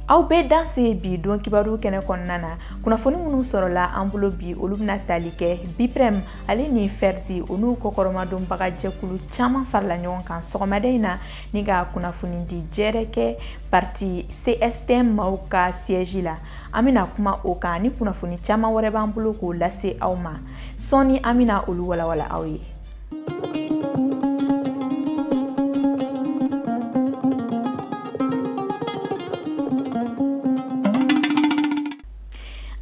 aw bɛɛ danse bi don kibaru kɛnɛ kɔnɔna na kunnafoni minnu sɔrɔla an bolo bi olu bɛna tali kɛ biprɛm ale ni fɛridi o n'u kɔkɔrɔmadonbaga jɛkulu caman farala ɲɔgɔn kan sɔgɔmada in na ni ka kunnafonidi jɛrɛ kɛ parti CSTM maaw ka siège la an bɛna kuma o kan ni kunnafoni caman wɛrɛ b'an bolo k'o lase aw ma sɔɔni an bɛna olu walawala aw ye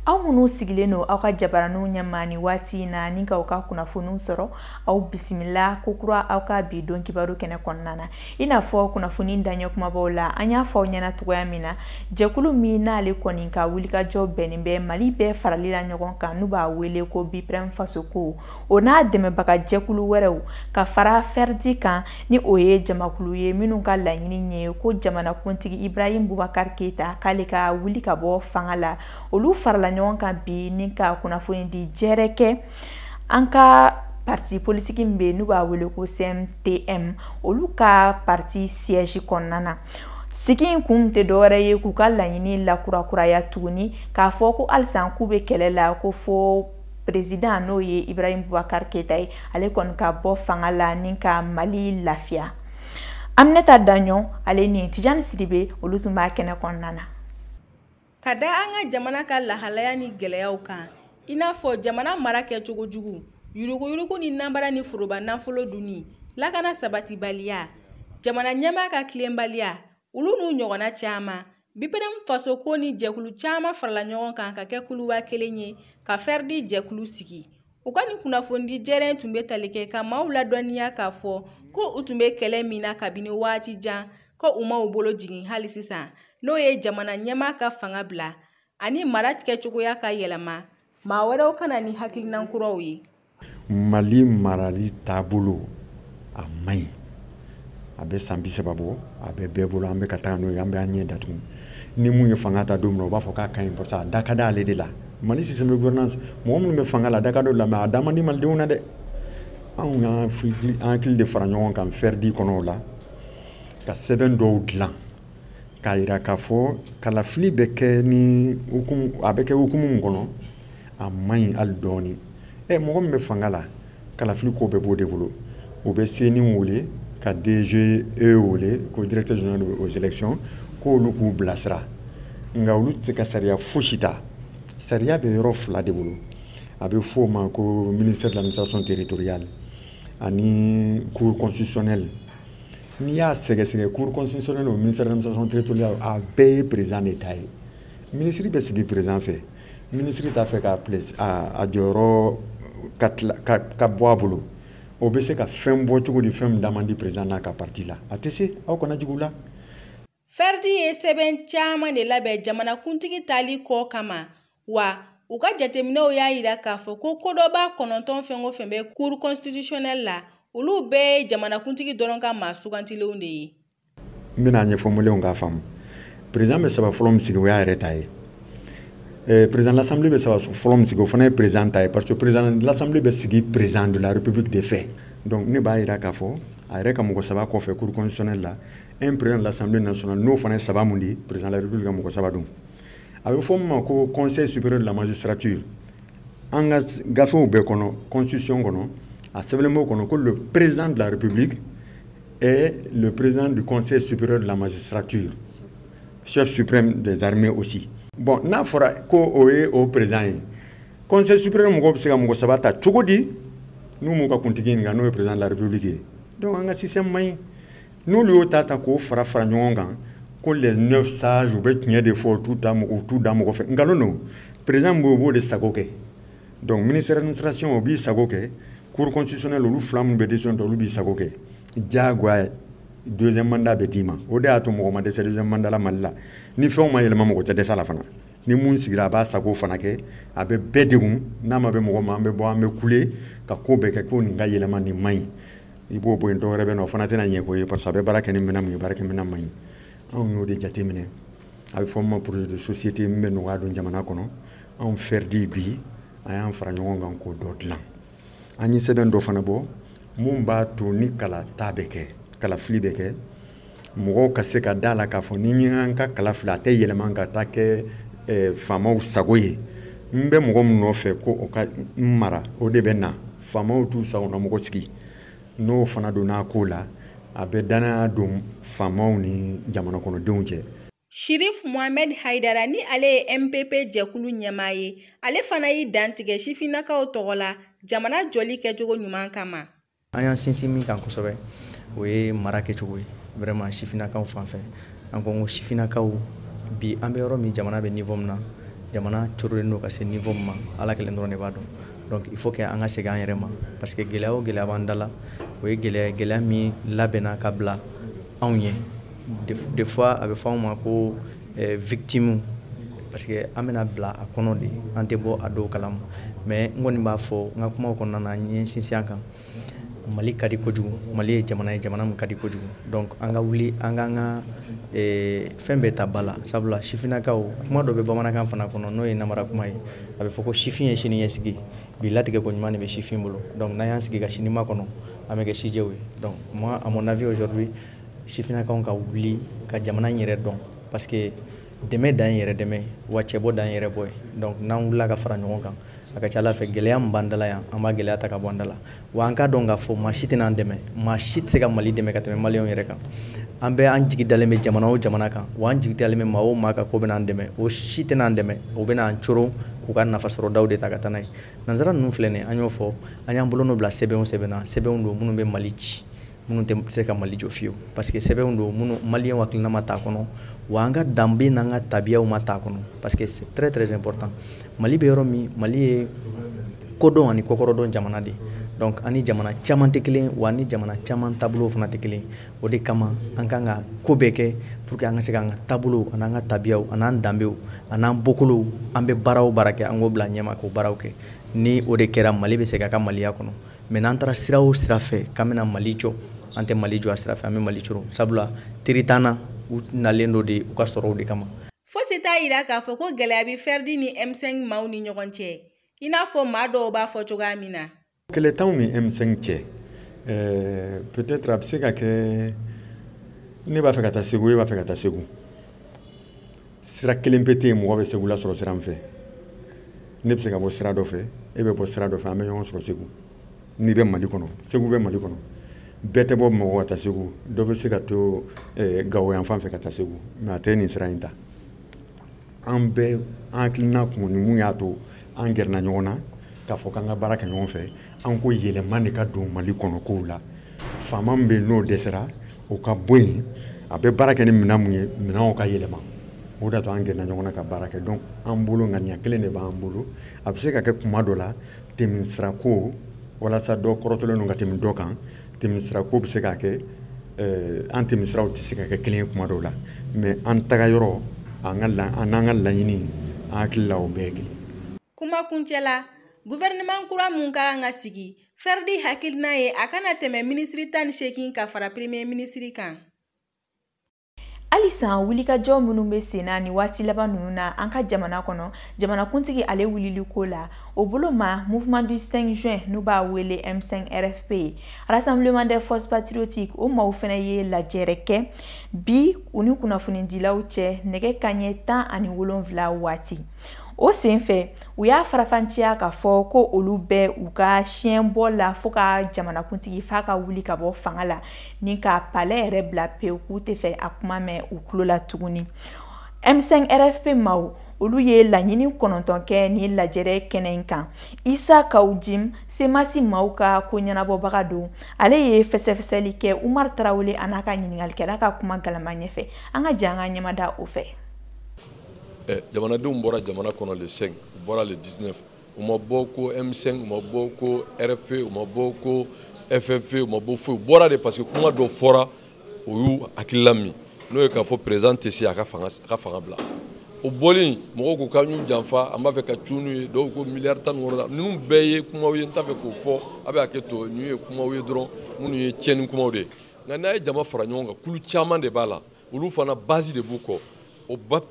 aw minnu sigilen don aw ka jabaraninw ɲɛma ni waati in na ni ka aw ka kunnafoniw sɔrɔ aw bisimila ko kura aw ka bi don kibaru kɛnɛ kɔnɔna na i n'a fɔ kunnafoni daɲɛ kumabaw la an y'a fɔ aw ɲɛna cogoya min na jɛkulu min n'ale kɔni ka wulikajɔ bɛnnen bɛ mali bɛɛ farali la ɲɔgɔn kan n'u b'a wele ko biprɛm fasoko o n'a dɛmɛbaga jɛkulu wɛrɛw ka fara fɛrdi kan ni o ye jamakulu ye minnu ka laɲini ye ko jamanakuntigi ibrahim bubakar keyita k'ale ka wuli ka bɔ fanga la olu farala ɲɔgɔn kan bi ni ka kunnafoni di jɛrɛ kɛ an ka parti politiki min bɛ n'u b'a wele ko CMTM olu ka parti siège kɔnɔna na sigi in kun tɛ dɔwɛrɛ ye k'u ka laɲini lakurakuraya tuguni k'a fɔ ko halisa k'u bɛ kɛlɛ la ko fo président n'o ye Ibrahim Boubacar Keita ye ale kɔni ka bɔ fanga la ni ka Mali lafiya Aminata Daɲɔn ale ni Tijani Sidibe olu tun b'a kɛnɛ kɔnɔna na ka da an ka jamana ka lahalaya ni gɛlɛyaw kan i n'a fɔ jamana mara kɛcogo jugu yuruguyurugu ni nanbara ni foroba nafolo dunni lakana sabatibaliya jamana ɲɛmaa ka tilenbaliya olu n'u ɲɔgɔnna caman bipɛrɛm fasoko ni jɛkulu caman farala ɲɔgɔn kan ka kɛ kuluba kelen ye ka fɛridi jɛkulu sigi u ka nin kunnafonidi jɛrɛ tun bɛ tali kɛ ka maaw ladɔnniya k'a fɔ ko u tun bɛ kɛlɛ min na kabini waati jan ko u ma u bolo jigin hali sisan n'o ye jamana ɲɛmaa ka fanga bila ani mara tigɛcogoya ka yɛlɛma maa wɛrɛw ka na ni hakilinan kuraw ye mali marali taabolo a man ɲi a bɛ san bi saba bɔ a bɛ bɛɛ bolo an bɛ ka taa n'o ye an bɛ an ɲɛ datugu ni min ye fanga ta don min na u b'a fɔ k'a ka ɲi parce que a da ka d'ale de la mali système de gouvernance mɔgɔ minnu bɛ fanga la a da ka d'o la mais a da man di malidenw na dɛ anw y'an hakili an hakili de fara ɲɔgɔn kan fɛridi kɔnɔ o la ka sɛbɛn dɔw dilan k'a yira k'a fɔ kalafili bɛ kɛ ni a bɛ kɛ hukumu min kɔnɔ a man ɲi hali dɔɔni ɛ mɔgɔ min bɛ fanga la kalafili ko bɛɛ b'o de bolo u bɛ CENI wele ka DGE wele ko directeur général aux élections k'olu k'u bilasira nka olu tɛ ka sariya fosi ta sariya bɛ yɔrɔ fila de bolo a bɛ f'o ma ko ministère de l'administration territoriale ani cour constitutionnelle n'i y'a sɛgɛsɛgɛ cour constitutionnelle o ministère de l'administration territoriale a bɛɛ ye président de ta ye minisiri bɛ sigi président fɛ Minisiri t'a fɛ k'a place a jɔyɔrɔ ka bɔ a bolo o bɛ se ka fɛn bɔ cogo di fɛn min da man di président n'a ka parti la a tɛ se aw kana jigi u la. Ferdi ye sɛbɛn caman de labɛn jamanakuntigi tali ko kama wa u ka jateminɛw y'a jira k'a fɔ ko kodɔnbaa kɔnɔntɔn fɛn o fɛn bɛ cour constitutionnelle la olu bɛɛ ye jamanakuntigi dɔrɔn ka maa sugantilenw de ye. n bɛn'a ɲɛfɔ malienw k'a faamu président bɛ saba fɔlɔ min sigi o y'a yɛrɛ ta ye eh, président de l'assemblée bɛ saba fɔlɔ min sigi o fana ye président ta ye parce que président de l'assemblée bɛ sigi président de la république de fɛ donc ne b'a jira k'a fɔ a yɛrɛ ka mɔgɔ saba kɔfɛ cour constitutionnelle la un président de l'assemblée nationale n'o fana ye saba mun di président de la république ka mɔgɔ saba don a bɛ fɔ min ma ko conseil supérieur de la magistrature an ka gafew bɛɛ kɔnɔ constitution kɔnɔ a sɛbɛnlen b'o kɔnɔ ko le président de la république est le président du Conseil supérieur de la magistrature, chef suprême des armées aussi. Bon, n'a fɔra ko o ye o président ye. Conseil supérieur mɔgɔw bɛ se ka mɔgɔ saba ta cogo di n'u m'u ka kuntigi ɲininka n'o ye président de la république ye. Donc an ka système man ɲi. N'olu y'o ta ta k'o fara fara ɲɔgɔn kan ko les neuf sages u bɛ tiɲɛ de fɔ u t'u ta mɔgɔ u t'u da mɔgɔ fɛ nkalon don président b'o b'o de sago kɛ. donc ministère d'administration o b'i sago kɛ cour constitutionnelle olu fila minnu bɛ décision ta olu b'i sago kɛ diyagoya deuxième mandat bɛ d'i ma o de y'a to mɔgɔ ma dɛsɛ deuxième mandat la mali la ni fɛnw ma yɛlɛma mɔgɔ tɛ dɛsɛ la fana ni mun sigira a b'a sago fana kɛ a bɛ bɛɛ degun n'a ma bɛn mɔgɔ ma an bɛ bɔ an bɛ kule ka ko bɛɛ kɛ ko nin ka yɛlɛma nin man ɲi i b'o bɔ yen dɔ wɛrɛ bɛ na o fana tɛna ɲɛ ko ye parce que a bɛ baara kɛ ni minɛn mun ye baarakɛminɛn man ɲi anw y'o de jateminɛ a bɛ fɔ min ma projet de société min bɛ nɔgɔya don jamana kɔnɔ anw Ferdi bi an y'an fara ɲɔgɔn kan k'o dɔ dilan an ye sɛbɛn dɔ fana bɔ mun b'a to ni kalata bɛ kɛ kalafili bɛ kɛ mɔgɔw ka se ka d'a la k'a fɔ ni n ye n ka kala fili a tɛ yɛlɛma ka taa kɛ eh, faamaw sago ye n bɛ mɔgɔ min nɔfɛ ko o ka n mara o de bɛ na faamaw t'u sagona mɔgɔ sigi n'o fana donna a ko la a bɛ dannaya don faamaw ni jamana kɔnɔdenw cɛ Shirif Mohamed Haidara ni ale ye MPP jɛkulu ɲɛmaa ye, ale fana y'i dantigɛ sifinnakaw tɔgɔ la jamana jɔli kɛcogo ɲuman kama. An y'an sinsin min kan kosɛbɛ, o ye mara kɛcogo ye vraiment sifinnakaw fan fɛ. An ko n ko sifinnakaw bi an bɛ yɔrɔ min jamana bɛ niveau min na, jamana corolen don ka se niveau min ma Ala kelen dɔrɔn de b'a dɔn. Donc il faut que an ka segin an yɛrɛ ma parce que gɛlɛya o gɛlɛya b'an da la, o ye gɛlɛya ye gɛlɛya min labɛnna ka bila anw ye. des fois a bɛ fɔ anw ma ko eh, victime parce que an bɛna bila a kɔnɔ de an tɛ bɔ a dɔw kalama mais n kɔni b'a fɔ n ka kumaw kɔnɔna na n ye sinsin a kan mali ka di kojugu mali ye jamana ye jamana min ka di kojugu donc an ka wuli an k'an ka eh, fɛn bɛɛ ta ba la sabula sifinnakaw kuma dɔ bɛ bamanankan fana kɔnɔ n'o ye namara kuma ye a bɛ fɔ ko sifin ye sini ɲɛsigi bi latigɛko ɲuman de bɛ sifin bolo donc n'an y'an sigi ka sini makɔnɔ an bɛ kɛ sijɛw ye donc moi à mon avis aujourd'hui sifinnakaw ka wuli ka jamana in yɛrɛ dɔn parce que dɛmɛ dan yɛrɛ dɛmɛ wa cɛbɔ dan yɛrɛ bɔ ye donc n'an wulila ka fara ɲɔgɔn kan a ka ca ala fɛ gɛlɛya min b'an da la yan an b'a gɛlɛya ta ka bɔ an da la wa an k'a dɔn k'a fɔ maa si tɛna an dɛmɛ maa si tɛ se ka mali dɛmɛ ka tɛmɛ maliyɛnw yɛrɛ kan an bɛ an jigi dalen bɛ jamana o jamana kan wa an jigi dalen bɛ maa o maa kan k'o bɛna an dɛmɛ o si tɛna an dɛmɛ o bɛna an coron k'u ka nafasɔrɔdaw de ta ka taa n'a ye nanzara ninnu filɛ nin ye an y'o fɔ an y'an bolonɔ bila sɛbɛn o sɛbɛn na sɛbɛnw don minnu bɛ mali ci minnu tɛ se ka mali jɔ fiyewu parce que sɛbɛnw don minnu maliyɛnw hakilina ma t'a kɔnɔ wa an ka danbe n'an ka tabiyaw ma t'a kɔnɔ parce que c'est très très important mali bɛ yɔrɔ min mali ye kodɔn ani kokɔrɔdɔn jamana de donc a ni jamana caman tɛ kelen wa a ni jamana caman taabolow fana tɛ kelen o de kama an kan ka ko bɛɛ kɛ pour que an ka se k'an ka taabolow an'an ka tabiyaw an'an danbew an'an bɔkolow an bɛ baara o baara kɛ an k'o bila ɲɛma k'o baaraw kɛ ni o de kɛra mali bɛ se ka ka maliya kɔnɔ mais n'an taara sira o sira fɛ k'an bɛna mali jɔ an tɛ mali jɔ a sira fɛ an bɛ mali coro sabula teri t'an na u nalen don de u ka sɔrɔw de kama fosi t'a yira k'a fɔ ko gɛlɛya bɛ fɛridi ni m5 maaw ni ɲɔgɔn cɛ i n'a fɔ maa dɔw b'a fɔ cogoya min na kɛlɛ t'anw ni m5 cɛ eh, peut-être a bɛ se ka kɛ ne b'a fɛ ka taa segu e b'a fɛ ka taa segu sira kelen pe tɛ yen mɔgɔ bɛ segu lasɔrɔ sira min fɛ ne bɛ se ka bɔ sira dɔ fɛ e bɛ bɔ sira dɔ fɛ an bɛ ɲɔgɔn sɔrɔ segu n'i bɛ mali kɔnɔ segu bɛ mali kɔnɔ bɛɛ tɛ bɔ bamakɔ ka taa segu dɔ bɛ se ka to eh, gawo yan fan fɛ ka taa segu mais a tɛ nin sira in ta an bɛɛ an hakilina kun ni mun y'a to an gɛrɛna ɲɔgɔn na k'a fɔ k'an ka baara kɛ ɲɔgɔn fɛ an ko yɛlɛma de ka don mali kɔnɔ kow la faama min bɛ yen n'o dɛsɛra o ka bɔ yen a bɛ baara kɛ ni minɛn mun ye minɛnw ka yɛlɛma o de y'a to an gɛrɛna ɲɔgɔn na ka baara kɛ donc an bolo ŋaniya kelen de b'an bolo a bɛ se ka kɛ kuma dɔ la tɛmɛsirako walasa dɔ kɔrɔtɔlen don ka tɛmɛ dɔ kan tɛmɛsirako bɛ se ka kɛ eh, an tɛmɛsiraw tɛ se ka kɛ kelen ye kuma dɔw la mais an tagayɔrɔ an ka an n'an ka laɲini an hakili la o bɛɛ ye kelen. kuma kuncɛ la Gouvernement kura mun ka kan ka sigi, Ferdi hakilina ye a kana tɛmɛ minisiri tan ni seegin ka fara premier minisiri kan. halisa wulikajɔ minnu bɛ sen na nin waati laban ninnu na an ka jamana kɔnɔ jamanakuntigi ale wulili ko la o bolo ma mouvement du 5 juin n'u b'a wele m5 rfp rassemblement des forces patriotiques o maaw fana ye lajɛrɛ kɛ bi u ni kunnafonidilaw cɛ nɛgɛ kanɲɛ tan ani wolonwula waati o senfɛ u y'a farafanciya ka fɔ ko olu bɛ u ka siyɛnbɔ la fo ka jamanakuntigi f'a ka wuli ka bɔ fanga la ni ka palɛ yɛrɛ bila pewu k'u tɛ fɛ a kuma mɛn u tulo la tuguni m5 rfp maaw olu ye laɲini kɔnɔntɔn kɛ nin lajɛrɛ kɛnɛ in kan isa kaw jim semasi maaw ka koɲɛnabɔbaga don ale ye fɛsɛfɛsɛli kɛ umar tarawele an'a ka ɲiningalikɛla ka kuma galama ɲɛfɛ an ka jɛ an ka ɲɛmada o fɛ eh, jamanadenw bɔra jamana kɔnɔ le 5 u bɔra le 19 u ma bɔ ko m5 u ma bɔ ko rfp u ma bɔ ko ff u ma bɔ foyi u bɔra de parce que kuma dɔ fɔra o y'u hakilila min n'o ye k'a fɔ président tɛ se a ka fanga a ka fanga bila o bɔlen mɔgɔw ko k'an y'u janfa an b'a fɛ ka cun n'u ye dɔw ko miliyari tan ni wɔɔrɔ la ninnu bɛɛ ye kumaw ye n t'a fɛ k'o fɔ a bɛ hakɛ to ninnu ye kumaw ye dɔrɔn minnu ye tiɲɛni kumaw de ye nka n'a ye jama fara ɲɔgɔn kan kulu caman de b'a la olu fana base de b'u kɔ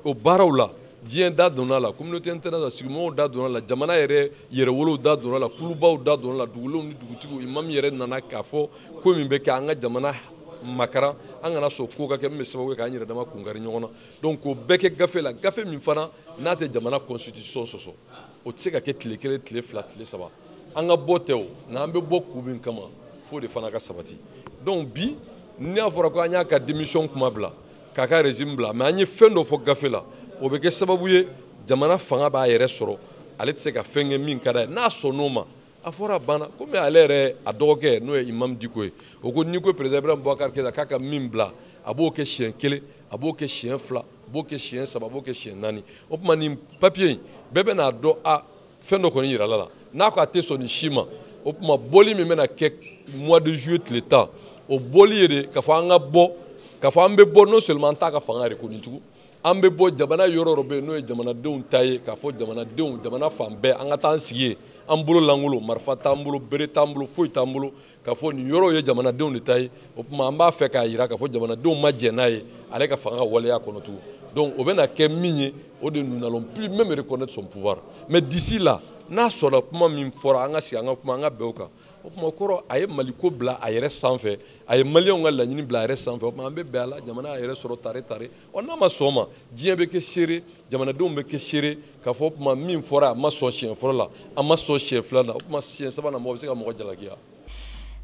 o baaraw la diɲɛ da donna la communauté internationale sigimɔgɔw da donna la jamana yɛrɛ yɛrɛwolow da donna la kulubaw da donna la dugulenw ni dugutigiw imam yɛrɛ nana k'a fɔ ko min bɛ kɛ an ka jamana makaran an kana sɔn ko ka kɛ min bɛ sababu ye k'an yɛrɛ dama kunkari ɲɔgɔn na donc k'o bɛɛ kɛ gafe la gafe min fana n'a tɛ jamana constitution sɔsɔ o tɛ se ka kɛ tile kelen tile fila tile saba an ka bɔ tɛ o nka an bɛ bɔ kun min kama f'o de fana ka sabati donc bi n'a fɔra ko an y'a ka démission kuma bila k'a ka régime bila mais an ye fɛn dɔ fɔ gafe la o bɛ kɛ sababu ye jamana fanga b'a yɛrɛ sɔrɔ ale tɛ se ka fɛn kɛ min ka d'a ye n'a sɔnn'o ma a fɔra a banna komi ale yɛrɛ a dɔgɔkɛ n'o ye imam diko ye o ko n'i ko perezidan ibrahim bubakar keyita k'a ka min bila a b'o kɛ siɲɛ kelen a b'o kɛ siɲɛ fila a b'o kɛ siɲɛ saba a b'o kɛ siɲɛ naani o tuma nin papiye in bɛɛ bɛn'a dɔn a fɛn dɔ kɔni yirala la n'a ko a tɛ sɔn nin si ma o tuma bɔli min bɛna kɛ mois de juillet tile tan o bɔli ye de k'a fɔ an ka bɔ k'a fɔ an bɛ bɔ non seulement an t'a ka fanga yɛrɛ ko nin tugun an bɛ bɔ jamana yɔrɔ dɔ bɛ yen n'o ye jamanadenw ta ye k'a fɔ jamanadenw jamana fan bɛɛ an ka taa an sigi yen an bolo lankolon marifa t'an bolo bere t'an bolo foyi t'an bolo k'a fɔ nin yɔrɔw ye jamanadenw de ta ye o tuma an b'a fɛ k'a jira k'a fɔ jamanadenw ma jɛn n'a ye ale ka fanga ka waleya kɔnɔ tugun donc o bɛna kɛ min ye o de nous n'allons plus même reconnaître son pouvoir mais d'ici là n'a sɔnna kuma min fɔra an ka sigi an ka kuma an ka bɛn o kan o kuma kɔrɔ a ye maliko bila a yɛrɛ sanfɛ a ye maliyɛnw ka laɲini bila a yɛrɛ sanfɛ o tuma an bɛ bɛn a la jamana y'a yɛrɛ sɔrɔ tare tare ɔ n'a ma sɔn o ma diɲɛ bɛ kɛ seere jamanadenw bɛ kɛ seere k'a fɔ o kuma min fɔra a ma sɔn siɲɛ fɔlɔ la a ma sɔn siɲɛ fila la o tuma siɲɛ sabanan mɔgɔ bɛ se ka mɔgɔ jalakiya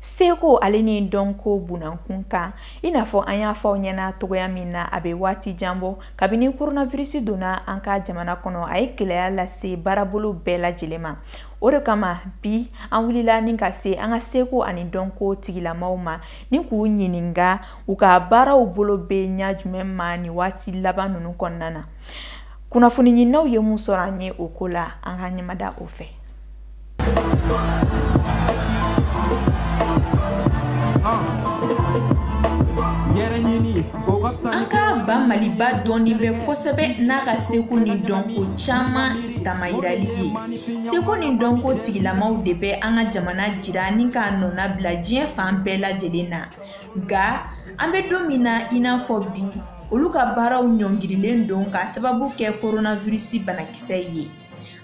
seko ale ni dɔnko bunankun kan i n'a fɔ an y'a fɔ aw ɲɛna cogoya min na a bɛ waati jan bɔ kabini koronavirisi donna an ka jamana kɔnɔ a ye gɛlɛya lase baarabolo bɛɛ lajɛlen ma o de kama bi an wulila ni ka se an ka seko ani dɔnko tigilamaw ma ni k'u ɲininka u ka baaraw bolo bɛ ɲa jumɛn ma nin waati laban ninnu kɔnɔna na kunnafoni ɲininaw ye mun sɔrɔ an ye o ko la an ka ɲɛmada o fɛ an ka ba maliba dɔnnen bɛ kosɛbɛ n'a ka seko ni dɔnko caman damayirali ye seko ni dɔnko tigilamaw de bɛ an ka jamana jira ni k'a nɔna bila diɲɛ fan bɛɛ lajɛlen na nka an bɛ don min na i n'a fɔ bi olu ka baaraw ɲɔngirilen don k'a sababu kɛ koronavirisi banakisɛ ye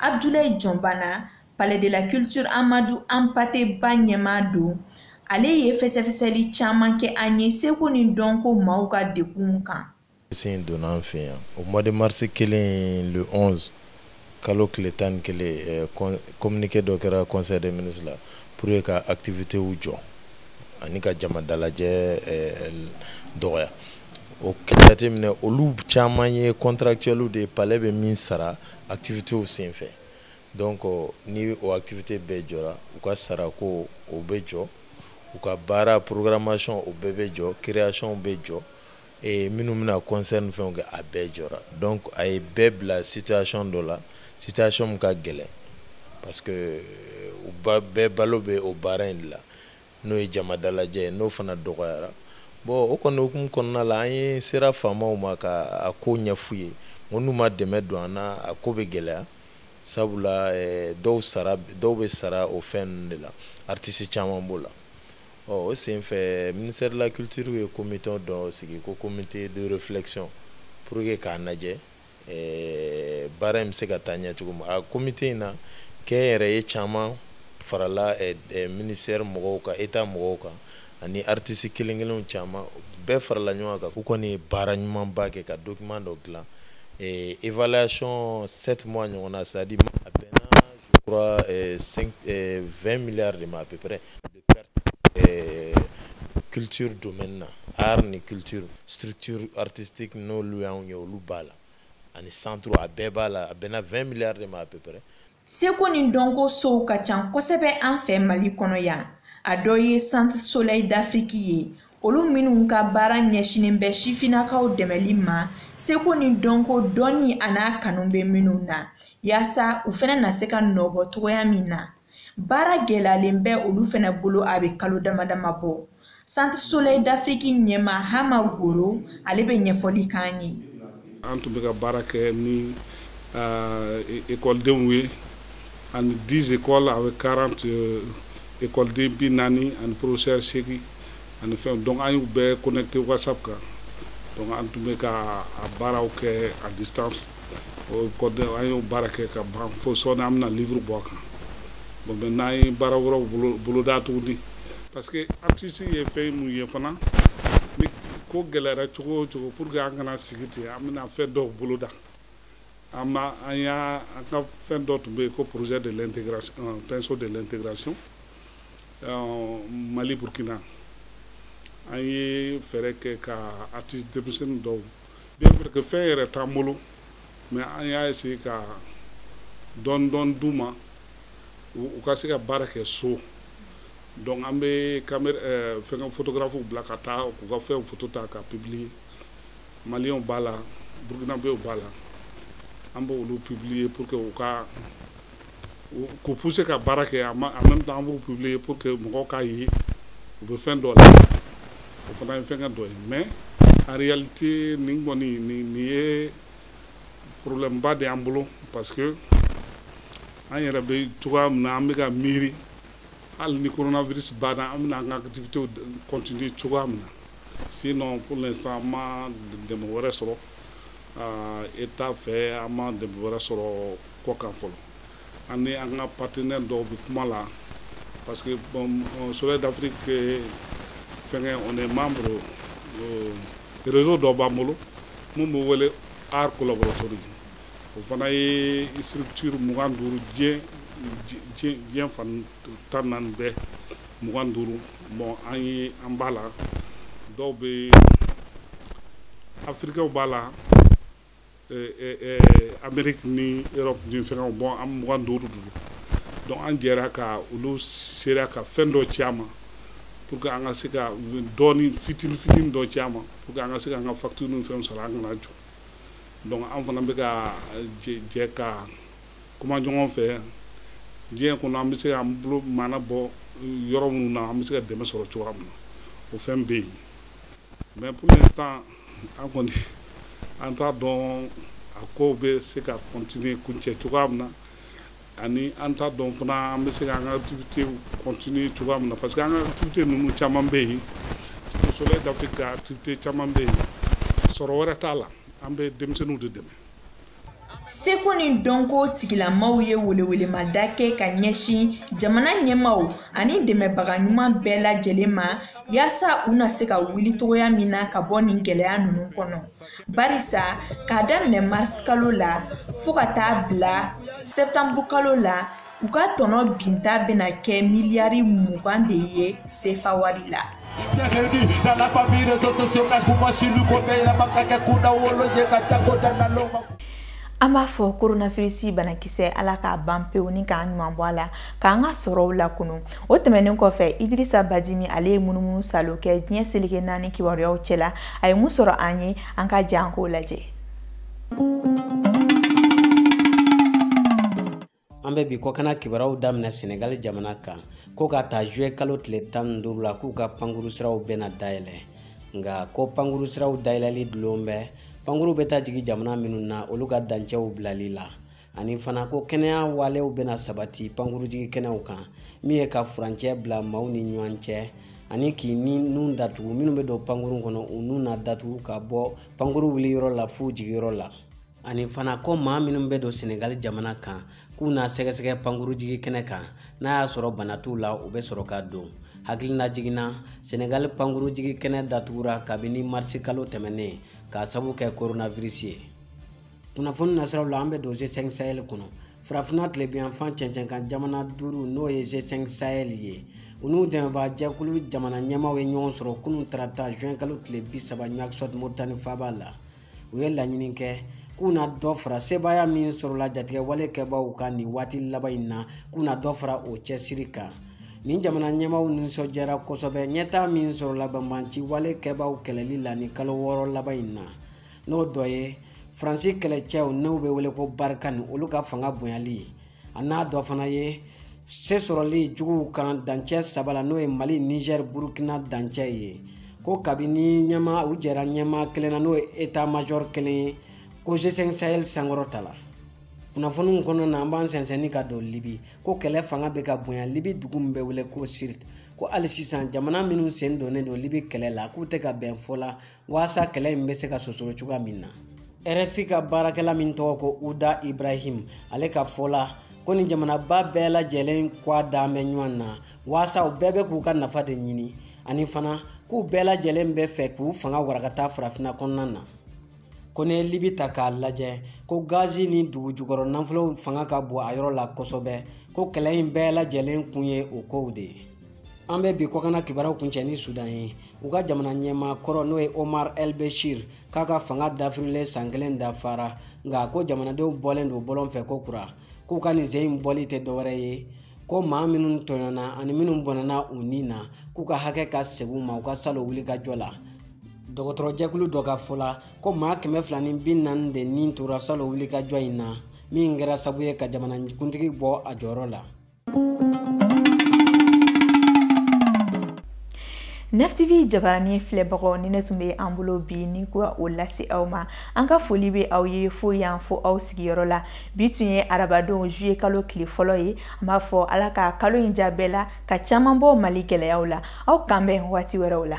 abdulayi jɔnbana palais de la culture amadu anpate ba ɲɛmaa don ale ye fɛsɛfɛsɛli caman kɛ an ye seko ni dɔnko maaw ka degun kan sin donna an fɛ yan au mois de mars kelen le 11 kalo tile tan ni kelen eh, communiqué dɔ kɛra conseil des ministres la pour que ka activitéw jɔ ani ka jama dalajɛ eh, dɔgɔya o jateminɛ olu caman ye contractuels de ye palais bɛ min sara activitéw sen fɛ donc ni o activité bɛɛ jɔra u ka sarako o bɛ jɔ u ka baara programmation o bɛɛ bɛ jɔ création bɛ jɔ e minnu bɛna concert ni fɛnw kɛ a bɛɛ jɔra donc a ye bɛɛ bila situation dɔ la situation min ka gɛlɛn parce que euh, u bɛɛ balo bɛ o baara in de la n'o ye jama dalajɛ ye n'o fana dɔgɔyara bon o kɔni hukumu kɔnɔna la an yɛrɛ sera faamaw ma ka a ko ɲɛf'u ye n ko n'u ma dɛmɛ don an na a ko bɛ gɛlɛya sabula eh, dɔw sara dɔw bɛ sara o fɛn ninnu de la artiste caman b'o la o senfɛ ministère de la culture ye comité dɔ sigi ko comité de réflexion pour que k'a lajɛ eh, baara in bɛ se ka taa ɲɛ cogo min a comité in na kɛnyɛrɛye caman farala eh, eh, ministère mɔgɔw kan état mɔgɔw kan ani artiste kelen kelenw caman bɛɛ farala ɲɔgɔn kan k'u kɔni ye baara ɲumanba kɛ ka document dɔ dilan eh, évaluation 7 mois ɲɔgɔnna c'est à dire a bɛnna je crois eh, 5, eh, 20 milliards de ma à peu près eh, culture domaine na art ni culture structure artistique n'olu y'anw ye olu b'a la ani centre a bɛɛ b'a la a bɛnna 20 milliards de ma à peu près seko ni dɔnko sow ka ca kosɛbɛ an fɛ mali kɔnɔ yan a dɔ ye centre soleil d'afrique ye olu minnu ka baara ɲɛsinnen bɛ sifinnakaw dɛmɛli ma seko ni dɔnko dɔnni an'a kanu bɛ minnu na yaasa u fana na se ka nɔbɔ cogoya min na baara gɛlɛyalen bɛ olu fana bolo a bɛ kalo dama dama bɔ centre soleil d'afrique ɲɛmaa hama goro ale bɛ ɲɛfɔli k'an ye an tun bɛ ka baara kɛ ni ekɔlidenw euh, ye ani 10 écoles avec 40 euh, ekɔliden bi naani ani professeur seegin ani fɛn donc an y'u bɛɛ connecté whatsapp kan donc an tun bɛ ka a baaraw kɛ à distance o kɔni an y'o baara kɛ ka ban fo sɔɔni an bɛna livre bɔ a kan bon maintenant an ye baara wɛrɛw bolo boloda tuguni parce que artiste ye fɛn mun ye fana ni ko gɛlɛyara cogo o cogo pour que an kana sigi ten an bɛna fɛn dɔw boloda an ma an y'a an ka fɛn dɔ tun bɛ yen ko projet de l'intégration euh, pinceau de l'intégration euh, Mali Burkina an ye fɛɛrɛ kɛ ka artiste denmisɛnnin dɔw bien vrai que fɛn yɛrɛ t'an bolo mais an y'a essayer ka dɔɔni dɔɔni d'u ma u ka se ka baara kɛ so donc an bɛ caméra euh, fɛngɛ photographe bila ka taa k'u ka fɛnw photo ta ka publier maliyɛnw b'a la burukinabew b'a la an b'olu publier pour que u ka k'u pousser ka baara kɛ en même temps an b'u publier pour que mɔgɔw k'a ye u bɛ fɛn dɔ la o fana ye fɛngɛ dɔ ye mais en réalité nin kɔni nin nin ye problème ba de y'an bolo parce que an yɛrɛ bɛ cogoya min na an bɛ ka miiri hali ni coronavirus banna an bɛna an ka activités continuer cogoya min na sinon pour l'instant an ma dɛmɛ wɛrɛ sɔrɔ état fɛ an ma dɛmɛ wɛrɛ sɔrɔ kɔ kan fɔlɔ an ni an ka partenaire dɔw bɛ kuma la parce que soleil d'afrique fɛnkɛ on est membre réseau dɔ b'an bolo min bɛ wele arts collaboratory o fana ye structure mugan duuru diɲɛ fan tan naani bɛɛ mugan duuru bon an ye an b'a la dɔw bɛ afirikɛw b'a la ameriki ni Europe ni fɛnkɛw bon an mugan duuru duuru donc an jɛra ka olu sera ka fɛn dɔ ci an ma pour que an ka se ka dɔɔni fitinin fitinin dɔ ci an ma pour que an ka se ka an ka facture ni fɛnw sara an kana jɔ donc an fana bɛ ka jɛ ka kuma ɲɔgɔn fɛ diɲɛ kɔnɔ an bɛ se ka an bolo maana bɔ yɔrɔ minnu na an bɛ se ka dɛmɛ sɔrɔ cogoya min na o fɛn bɛ yen mais pour l'instant an kɔni an t'a dɔn a kow bɛ se ka continuer kuncɛ cogoya min na ani an t'a dɔn fana an bɛ se ka an ka activité continuer cogoya min na parce que an ka activité ninnu caman bɛ yen Soleil d'Afrique ka activité caman bɛ yen sɔrɔ wɛrɛ t'a la an bɛ denmisɛnninw de dɛmɛ seko ni dɔnko tigilamaw ye welewelemada kɛ ka ɲɛsin jamana ɲɛmaw ani dɛmɛbaga ɲuman bɛɛ lajɛlen ma yaasa u na se ka wuli cogoya min na ka bɔ nin gɛlɛya ninnu kɔnɔ barisa k'a daminɛ marisikalo la fɔɔ ka taa bila sɛtanburukalo la u ka tɔnɔ binta bɛna kɛ miliyari mugan de ye sefa wari la an b'a fɔ koronavirisi banakisɛ ala k'a ban pewu ni k'an ɲuman bɔ a la k'an ka sɔrɔw lakunun o tɛmɛnen kɔfɛ idirisa badimi ale ye munumunu salo kɛ diɲɛ seleke naani kibaruyaw cɛla a ye mun sɔrɔ an ye an ka jan k'o lajɛ an bɛ bi kɔkana kibaruyaw daminɛ senegali jamana kan ko k'a ta juillet kalo tile tan ni duuru la k'u ka pankuru siraw bɛna dayɛlɛ nka ko pankuru siraw dayɛlɛli dulon bɛ pankuru bɛ taa jigin jamana minnu na olu ka dancɛw bilali la ani fana ko kɛnɛya walew bɛna sabati pankurujigi kɛnɛw kan min ye ka furancɛ bila maaw ni ɲɔgɔn cɛ ani k'i ni nun datugu minnu bɛ don pankuru kɔnɔ u nun na datugu ka bɔ pankuru wuli yɔrɔ la f'u jigiyɔrɔ la ani fana ko maa minnu bɛ don senegali jamana kan k'u na sɛgɛsɛgɛ pankurujigi kɛnɛ kan n'a y'a sɔrɔ bana t'u la u bɛ sɔrɔ ka don hakilinajigin na senegali pankurujigi kɛnɛ datugura kabini marisi kalo tɛmɛnen k'a sabu kɛ koronavirisi ye kunnafoni nasiraw la an bɛ don g5 sahel kɔnɔ farafinna tilebiyanfan cɛncɛnkan jamana duuru n'o ye g5 sahel ye u n'u dɛmɛbaa jɛkulu jamana ɲɛmaaw ye ɲɔgɔn sɔrɔ kunun tarata juin kalo tile bi saba nuwakisɔt moritani faaba la u ye laɲini kɛ k'u na dɔ fara sebaaya min sɔrɔla jatigɛ wale kɛbaaw kan nin waati laban in na k'u na dɔ fara o cɛsiri kan nin jamana ɲɛmaaw nisɔndiyara kosɛbɛ ɲɛtaa min sɔrɔla banbanci wale kɛbaaw kɛlɛli la nin kalo wɔɔrɔ laban in na n'o dɔ ye faransi kɛlɛcɛw n'u bɛ wele ko barikani olu ka fanga bonyali ye a n'a dɔ fana ye se sɔrɔli juguw kan dancɛ saba la n'o ye mali niger burukina dancɛ ye ko kabini ɲɛmaaw jɛra ɲɛmaa kelen na n'o ye état major kelen ye ko g5 sahel sankɔrɔtala kunnafoniw kɔnɔna na an b'an sɛnsɛnni ka don libi ko kɛlɛ fanga bɛ ka bonya libi dugu min bɛ wele ko sirt ko hali sisan jamana minnu sen donnen don libi kɛlɛ la k'u tɛ ka bɛn fɔ la walasa kɛlɛ in bɛ se ka sosoro cogoya min na rfi ka baarakɛla min tɔgɔ ko uda ibrahim ale ka fɔ la ko nin jamanaba bɛɛ lajɛlen kɔ a dan bɛ ɲɔgɔn na walasa u bɛɛ bɛ k'u ka nafa de ɲini ani fana k'u bɛɛ lajɛlen bɛ fɛ k'u fanga warakata farafinna kɔnɔna na ko n'i ye libi ta k'a lajɛ ko gazi ni dugu jukɔrɔ nafolow fanga ka bon a yɔrɔ la kosɛbɛ ko kɛlɛ in bɛɛ lajɛlen kun ye o kow de ye an bɛ bi kɔkana kibaruyaw kuncɛ ni sudan ye u ka jamana ɲɛmaa kɔrɔ n'o ye omar el beshir k'a ka fanga dafirilen san kelen dafara nka ko jamanadenw bɔlen don bɔlɔn fɛ kokura k'u ka nin sen in bɔli tɛ dɔwɛrɛ ye ko maa minnu tɔɲɔna ani minnu bɔnɛna u ni na k'u ka hakɛ ka segin u ma u ka salon wulikajɔ la dɔgɔtɔrɔjɛkulu dɔ ka fɔ la ko maa kɛmɛ fila ni bi naani de ni tora salon wulikajɔ in na min kɛra sabu ye ka jamanakuntigi bɔ a jɔyɔrɔ la nftv jabarani filɛbagaw nin de tun bɛ an bolo bi nin k'o lase aw ma an ka foli bɛ aw ye fo yan fo aw sigiyɔrɔ la bi tun ye arabadon juillet kalo tile fɔlɔ ye an b'a fɔ ala ka kalo in diya bɛɛ la ka caman bɔ mali gɛlɛyaw la aw k'an bɛn waati wɛrɛw la